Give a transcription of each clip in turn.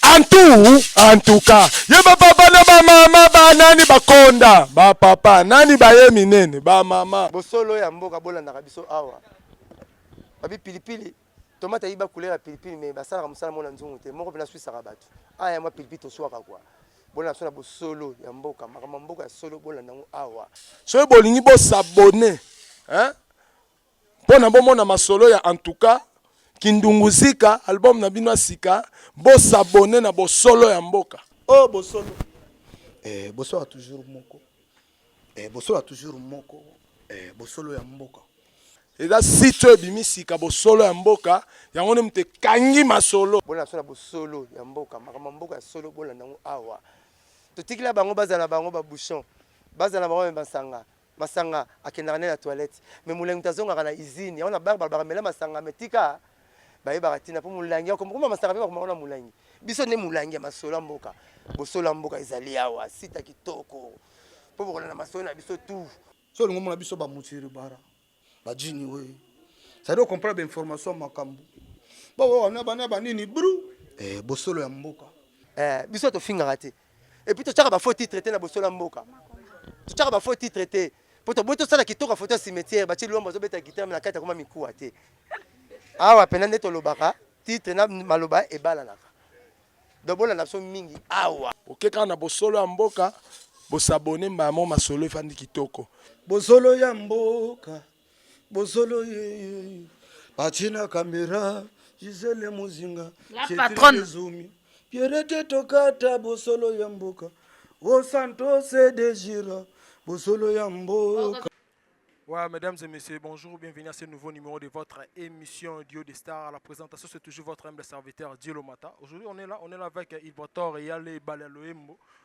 antu antuka ye bapapa na bamama banani bakonda bapapa nani baye minene bamama bosolo ya mboka bolandaka biso awa babi pilipili Tomate ayiba couleur ya pilipili mais basalaka mosala mona nzungu te moko mpe naswisaka bato aya ah, mwa pilipili toswaka kwa bolanda biso na bosolo ya mboka makambo ya mboka ya solo bolanda yango awa soki bolingi bosabone mpo na bomona masolo ya antuka kindungu zika album na bino ya sika bosabone na bosolo ya mboka o oh, bosolo eh, boswaka toujours moko Eh, bosolo ya toujours moko eh, bosolo ya mboka eza site oyo ebimi sika bosolo ya mboka yango nde moto ekangi masolo bolanda solo ya bosolo ya mboka makambo ya mboka ya solo bolanda yango awa totikila bango bazala bango babouchon bazala bango me masanga masanga akendaka nde na toilette me molangi moto azongaka na usine yango na bar balobaka mela masanga me tika bayebaka ntina mpo molangi ya komokoma masaka mpe bakomaka na molangi biso nde molangi ya masolo ya mboka bosolo ya mboka ezali awa sita kitoko mpo bokolanda masolo na biso tu so olingi omona biso bamusiri bara bajini we sadi okomprana bainformation makambo bawana bana banini bru eh, bosolo ya mboka eh, biso tofingaka te epuis totyaka bafaux titre te na bosolo ya mboka totyaka bafaux titre te Mpo toboyi tosala kitoko foto ya cimetière, batie Luambo azobeta guitare mais na kati akoma mikuwa te. Awa mpenza nde tolobaka titre na maloba ebalanaka. Donc bolanda biso mingi awa. Oke kaka na bosolo ya mboka, bosabone mbala moko masolo efandi kitoko. Bosolo ya mboka bosolo yeyeyu batina kamera gisele mozinga ezumi pierete tokata bosolo ya mboka o santos de gira bosolo ya mboka Ouais, mesdames et messieurs, bonjour, bienvenue à ce nouveau numéro de votre émission Duo des Stars. À la présentation, c'est toujours votre humble serviteur Dieu Lomata. Aujourd'hui, on est là, on est là avec Ibotor et Yale Balaloembo.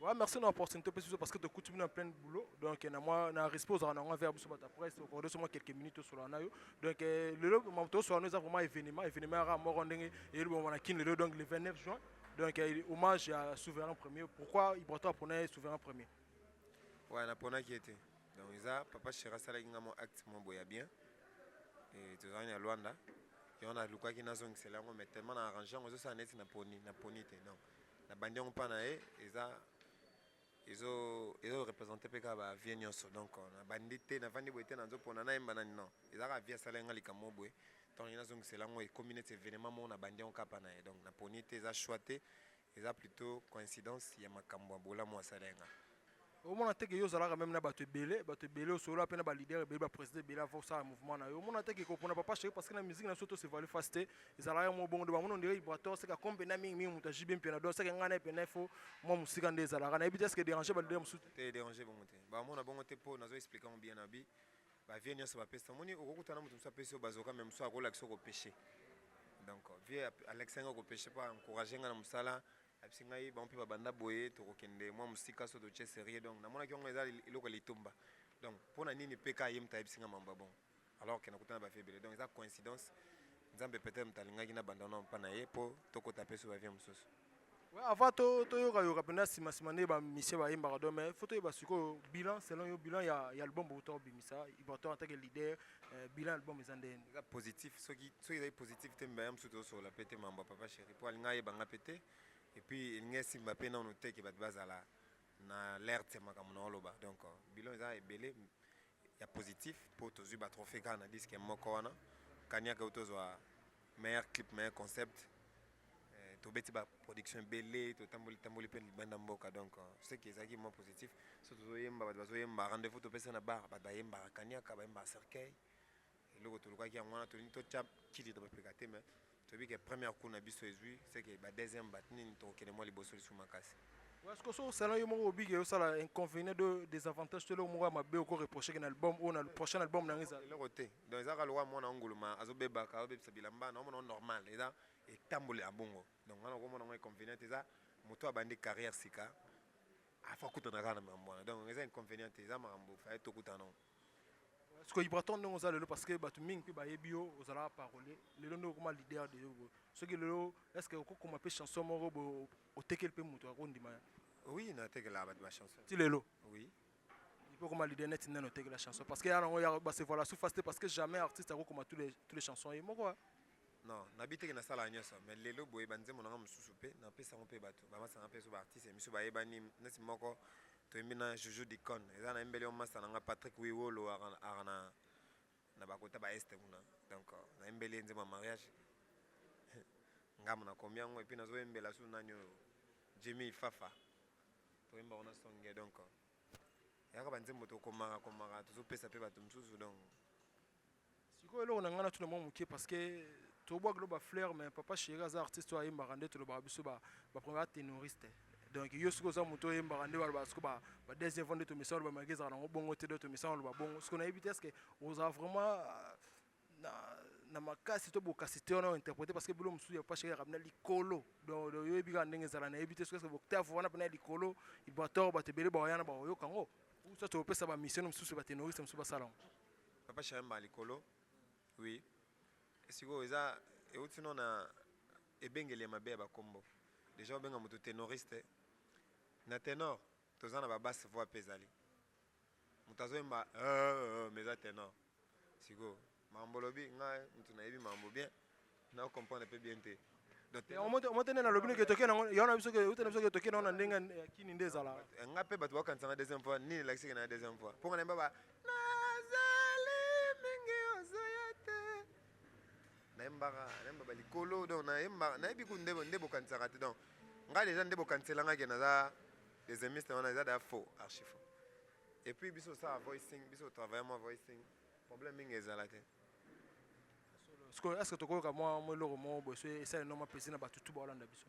Ouais, merci na opportunité opesi biso parce que tokuti bino en plein boulot donc na mwa na respect ozalaka na yango envers biso bato ya presse okorde so mwa quelques minutes tosolola na yo donc eh, lelo makambo tosola no eza vraiment événement événement yaka moko ndenge elobama na kin lelo donc le 29 juin donc eh, hommage ya souverain premier pourquoi ibrato apona ye souverain premier Ouais, naponaki ye te donc eza papa shera asalaki nga mwa acte mwa boye ya bien Eh, tozalaki na luanda yango nalukaki nazongisela yango mais tellement na arrange yango ezosala neti naponi naponi te donc na bandi yango pa naye eza ezo ezo represente pe kaka ba vie nionso donc na bandi te na vandi boye te nazo pona na yemba nani non eza kaka vie asala nga likambo moko boye donc nalingi nazo ngisela yango ekomi neti evenement moko na bandi yango kaka pa naye donc na poni te eza choix te eza plutot coincidence ya makambo ya bolamu asala nga Omona te que yo ozalaka meme na bato ebele, bato ebele osolola pe na ba leader ebele, ba president ebele avant osala mouvement na yo. Omona te que kopona papa Cherie parce que na musique na biso tous evolue face te, ezalaka kaka moko bongo donc bamoni on dirait Ibrator aseka kombe na mingi mingi moto ya JB Mpiana donc aseka ngai na ye pena il faut mua mosika nde ezalaka. Nayebi te est ce que e deranger ba leader mosusu te? Te e deranger bango te. Bamona bongo te po nazo expliquer yango bien na bi ba vieux nionso bapesi te. Omoni okoki kutana na moto mosusu apesi yo bazooka mais mosusu akolakisa yo ko pecher donc vieux alakisaki ngai ko pecher po a encourager ngai na mosala Ayebisi ngai bango pe ba banda boye toko kende mua musika soki totie serieux donc na monaki yango eza eloko ya litumba donc pona nini PK ye mutu ayebisi ngai mambu ya bongo alors que na kutana na ba vie ebele donc eza coincidence nzambe peut-etre mutu alingaki na banda nao epa na ye po to kota pe sous ba vie mususu. Ouais avant to to yoka yoka pena sima sima nde ba musicien ba yembaka donc mais faut to yeba sikoyo bilan selon yo bilan ya ya album bouta obimisa ibrator en tant que leader Euh, bilan album eza nde eza positif soki soki ezali positif te mbaya mosusu tosolola mpe te mambo ya papa chéri mpo alinga ayeba nga mpe te epuis elingi esimba mpe nano te ke bato bazala na lerte makambo na oloba donc euh, bilan eza ebele ya positif mpo tozwi batrophée kaka na diske moko wana kaniaka oyo tozwa Meilleur clip, meilleur concept. Euh, tobeti ba production ebele totamboli tamboli mpe libanda mboka donc euh, ce qui ezalaki mwa positif so tozoyemba bato bazoyemba rendez-vous topesa na bar bato bayembaka kaniaka bayembaka cercueil eloko tolukaki yango wana tolingi totya kili na bapeka te mais toyebi ke première coup na biso ezwi ce que ba deuxième bat nini tokokende mwa liboso lisusu makasi parce que so osala yo moko obiki osala inconvénient de des avantages to eloko moko ya mabe oko reproche ke na album oyo na prochain album na ngai ezala eloko te Donc eza kaka lokola mwana ya nguluma azo bebaka azo bebisa bilamba na omona ngo normal eza etamboli ya bongo donc nga nako mona ngo inconvenient te eza mutu oyo abandi carrière sika a faut akutana kaka na makambo wana donc eza inconvenient te eza makambo il fallait tokutana ngo sikoyo ibraton ndenge oza lelo parce que bato mingi mpe bayebi yo ozalaka parole lelo nde okoma leader de yo soki lelo est ce que okokoma mpe chanson moko boye otekeli mpe moto akondima ya oui natekelaka bato bachanson ti lelo oui Il peut koma leader net neno teke la chanson parce que ya nango ya ba se voilà sous face te parce que jamais artiste ako koma tous les tous les chansons ye moko hein. Non, na biteke na sala nyoso mais lelo boye ba nzembo nanga mususu pe na pesa ngo pe batu ba masa nanga pe so ba artiste misu ba yebani neti moko to yembi na Joujou Dicon eza na yembeli yo masa nanga Patrick Wiwolo aka na na ba kota ba est kuna donc na yembeli ye nzembo ya mariage ngamu na komi yango et puis nazo yembela su nani oyo Jimmy Fafa Toyemba kuna songe donc yaka ba nzembo tokomaka komaka tozopesa mpe bato mosusu donc sikoyo eloko na ngai natuna mwa moke parce que tobwaki lo bafleur mais papa chéri aza artiste oyo ayembaka nde tolobaka biso bapremier batenoriste donc yo soki oza moto oyembaka nde balobaka soki badeuxième fois nde tomesana loba maki ezalaka nango bongo te do tomesana loba bongo soki nayebi te eske ozala vraiment na na makasi to bokasi te wana interprète parce que bilo mosusu ya papa chéri ya kabina likolo donc yo yebi kaka ndenge ezala na yebi te soki ce octave wana pena likolo ibator bato ebele ba yana ba oyoka ngo ou soit opesa ba mission mosusu ba tenoriste mosusu basala ngo papa chéri mba likolo oui esiko eza euti no na ebengeli ya mabe ya ba kombo déjà obenga moto tenoriste na tenor toza na ba basse voix pe ezali Mutu azo yemba eeh mais eza tenor sikoyo makambo olobi nga mutu nayebi makambo bien nao comprendre pe bien te yango te nde nalobi noki etoke nango yango na biso ke euta na biso ke etoke nango na ndenge ya kini nde ezala eh, nga pe bato bakanisa nga deuxième fois nini elakisi ke na deuxième fois mpo nga nayemba ba nazali mingi ozoya te nayembaka nayemba balikolo donc nayemba nayebi ku nde bokanisaka te donc nga deja nde bokanisela nga ke naza Deuxiemiste wana eza da faux, archi faux. Et puis biso ça voicing, biso travailler moi voicing, problème mingi ezala te. Siko est-ce que tokoyoka mwa mwa eloko moko boye soki esali noma mpesi na bato tu baolanda biso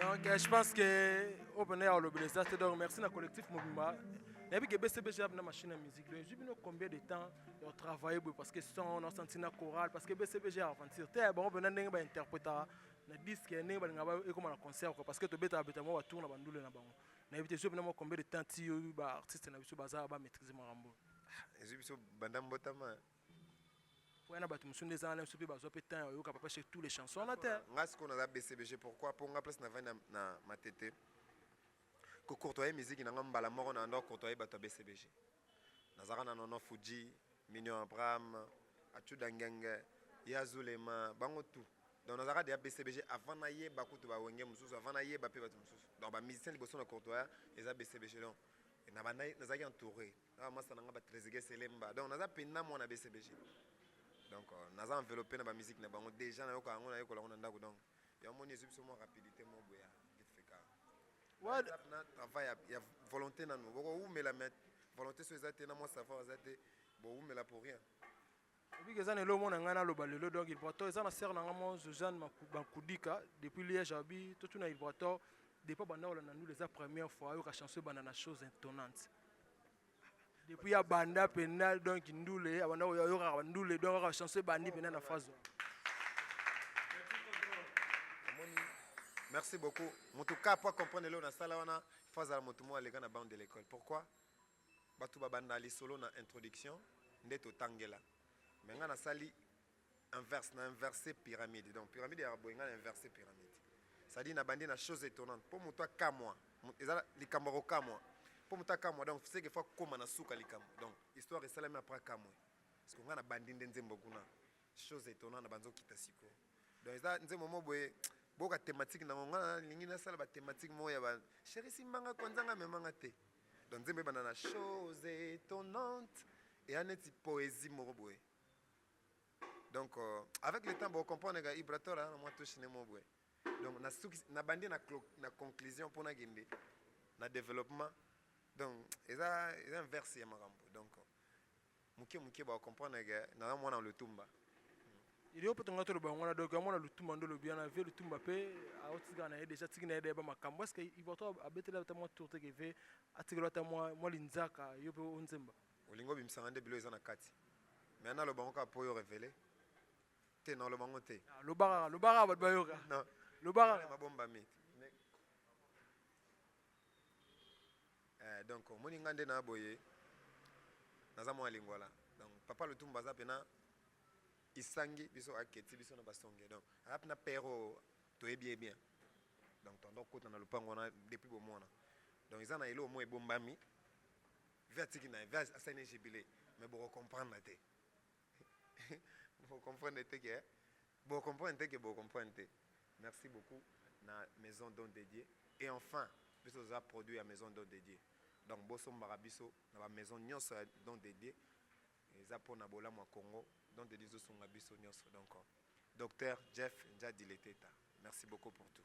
Donc euh, je pense que open air le blessé c'est donc merci na collectif Mobimba. Nabi que BCB j'ai na machine à musique. Donc j'ai bino combien de temps on travaille parce que son on a senti na chorale parce que BCB j'ai aventure. T'es bon on a ndenge ba interpréter na disque ndenge ba ngaba et comme na concert quoi parce que to beta beta moi tourne ba ndule na bango. nayebi te ezwi bino mwa combien de temps ti yo ba artiste na biso baza ba maîtrise makambo ezwi biso banda mbotama po yana bato mosusu nde eza wana biso mpe bazwa mpe temps ya koyoka papa chez tous les chansons wana te nga sikoyo naza bcbg pourquoi po nga place navandi na, na matete kocourtoye miziki na nga mbala moko na ando akourtoye bato ya bcbg Nazalaka na Nono Fuji, Mignon Abraham, Achuda Ngenge, Ya Zulema, bango tout. Donc nazalaka dejà BCBG avant nayeba kutu ba Wenge mususu, avant nayeba pe batu mususu. Donc ba musiciens liboso na Courtois eza BCBG. Donc nabandaki nazalaki entoure na ba masta na nga ba Trezeguet Selemba. Donc naza penza mwana BCBG. Donc naza enveloppe na ba musique na bango dejà nayoka yango nayekola yango na ndaku donc. Yo omoni ezui biso mwa rapidite moko boye ya vite fait kaka. Na What? WhatsApp na travail ya, ya volonte nanu boko wumela mais volonte soki eza te na mwa savoir eza te bo wumela pour rien. Obika eza na eloko moko na ngai naloba lelo donc ilbrator eza na sœur na ngai moko Josiane Maku- Makudika depuis Liège abi totuna ilbrator depuis abanda kolanda ndule eza première fois ayoka chanson ebanda na chose intonnante depuis ya banda penda donc ndule abanda koyoka ba ndule donc aka chanson bandi penda na phrase merci beaucoup moto ka po comprendre lelo na sala wana faut azala moto moko aleka na bande de l'école pourquoi bato babanda lisolo na introduction nde totangela me ngai nasali inverse na inverse pyramide donc pyramide ya boye nga na inverse pyramide cestadire na bandi na chose étonnante mpo moto akamwa eza likambo ya kokamwa mpo moto akamwa donc seke fo akoma na suka likambo donc histoire esalami apres akamwe parceke nga na bandi nde nzembo kuna chose étonnante na banzi okita siko donc eza nzembo mo boye boka thématique nango nga nalingi nasala bathématique moko ya ba chéri simbanga kwanzanga memanga te donc nzembo ebanda na chose étonnante eya neti poésie moko boye donc avec le temps bo comprendre ga ibrator na mwa touche ne mo boye donc na suki na bandi na na conclusion mpo na kende na développement donc eza eza inverse ya makambo donc moke moke ba comprendre ga na mwana lutumba iliyo mpe tonga toloba yango wana donc yango na lutumba nde olobi wana ve lutumba mpe aotika na ye deja atiki na ye dayeba makambo eske ivoto abeteli ata mwa tour te ke ve atikelo ata mwa linzaka yo mpe onzemba Olingi obimisa nga nde biloko eza na kati mais naloba yango kaka po yo revele te naloba yango te. Ah, loba kaka loba kaka bato bayoka non loba kaka mabombami eh, donc omoni nga nde na boye naza mwana lingwala donc papa lutumba aza pena isangi biso aketi biso na basonge donc aza pena pero toyebi ye bien donc tondo kota na lopango wana depuis bomwana donc eza na eloko moko ebombami Vie atiki naye, vie asali naye jubile mais boko comprendre te boko comprendre te ke boko comprendre te ke boko comprendre te. Merci beaucoup na maison don de Dieu et enfin biso toza produit ya maison don de Dieu donc bosombaka biso na ba maison nionso ya don de Dieu eza pona bolamu ya Congo don de Dieu ezosunga biso nionso donc Docteur Jeff Ndjadi Leteta merci beaucoup pour tout.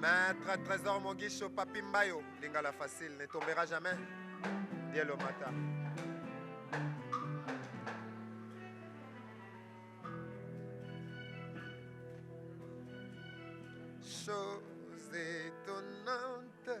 Maître Trésor Mogisho Papi Mbayo Lingala facile ne tombera jamais Dielo Mata Chose étonnante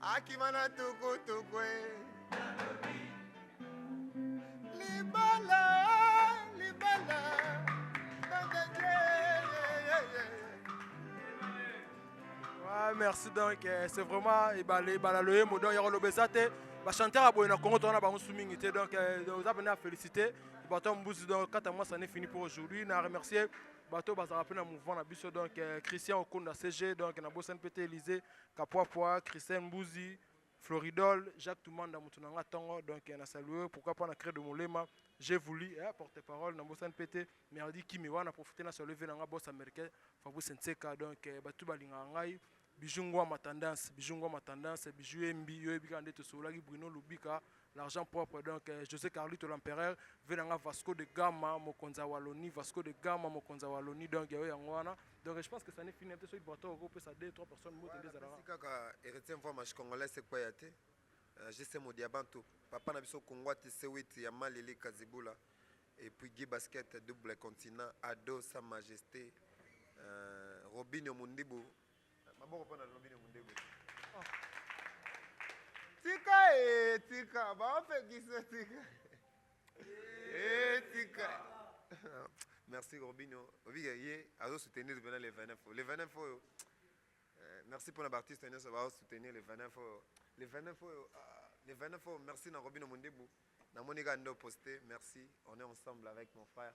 akima na tukutuku e libala libala Ouais, merci donc eh, c'est vraiment ebale ebala loyembo donc yako loba eza te bachanteur ya boye na congo tozana bango su mingi te donc eh, oza mpena ya félicité bato ya mbuzi donc kata mwasa ne fini pour aujourd'hui na remercier bato bazalaka mpe na mouvement na biso donc eh, christian okunda cg donc na bosani mpe te élysée Kapuapua, Christelle Mbuzi, Floridol, Jacques Tumanda mutu na nga tongo donc na salue yo pourquoi pas na Credo Molema, J'ai voulu eh porte parole na bosani pe te Merdi Kimi wana na profiter na salue vieux na nga boss americain Fabrice Nseka donc batu tout ba lingaka ngai Bijou Nguama tendance, Bijou Nguama tendance, Bijou Embi yo yebi kaka nde to sololaki Bruno Lubika L'argent propre donc Jose Carlito l'empereur vie na nga Vasco de Gama mokonzi ya Wallonie Vasco de Gama mokonzi ya Wallonie donc yayo yango wana donc je pense que ça n'est fini peut-être soki Brato oko pesa 2 3 personnes mbote nde ezalaka kaka héritier mvua mashi congolais c'est quoi ya te euh, JC Modiabantu papa na biso Kungwati C8 ya Malili Kazibula et puis Guy Basket double continent Ado sa majesté euh, Robinho Mundibu Maboko pona lobi ne mundego. Tika e tika ba ofekisa tika. E tika. Merci Robinho. Obi ye azo soutenir bena le 29 fo. Le 29 fo. Eh, merci pona ba artiste nyoso ba soutenir le 29 fo. Le 29 fo. Ah, le 29 fo. Merci na Robinho Mundebu. Na Monica ndo poster. Merci. On est ensemble avec mon frère.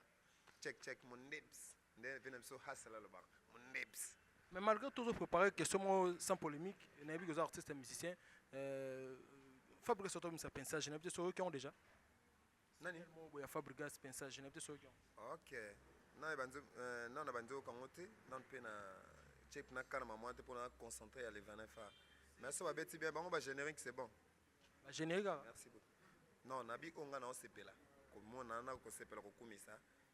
Check check mon lips. Nde vie na biso hustle alobaka mundebs. Mais malgre tout ozo preparer question moko sans polemique nayebi que oza artiste ya musicien euh, Fabrigas oto misa pensage nayebi te soki oyoki yango déjà nani moko boya Fabrigas pensage nayebi te soki oyoki yango ok nao na banzo euh, nao na banzo yoka yango te nao mpe na check na kana maman te mpona na concentre ya le 29 fa mais so babeti bien bango ba générique c'est bon ba générique kaka merci beaucoup non nabi oyo ngai naosepela komona na kosepela kokumisa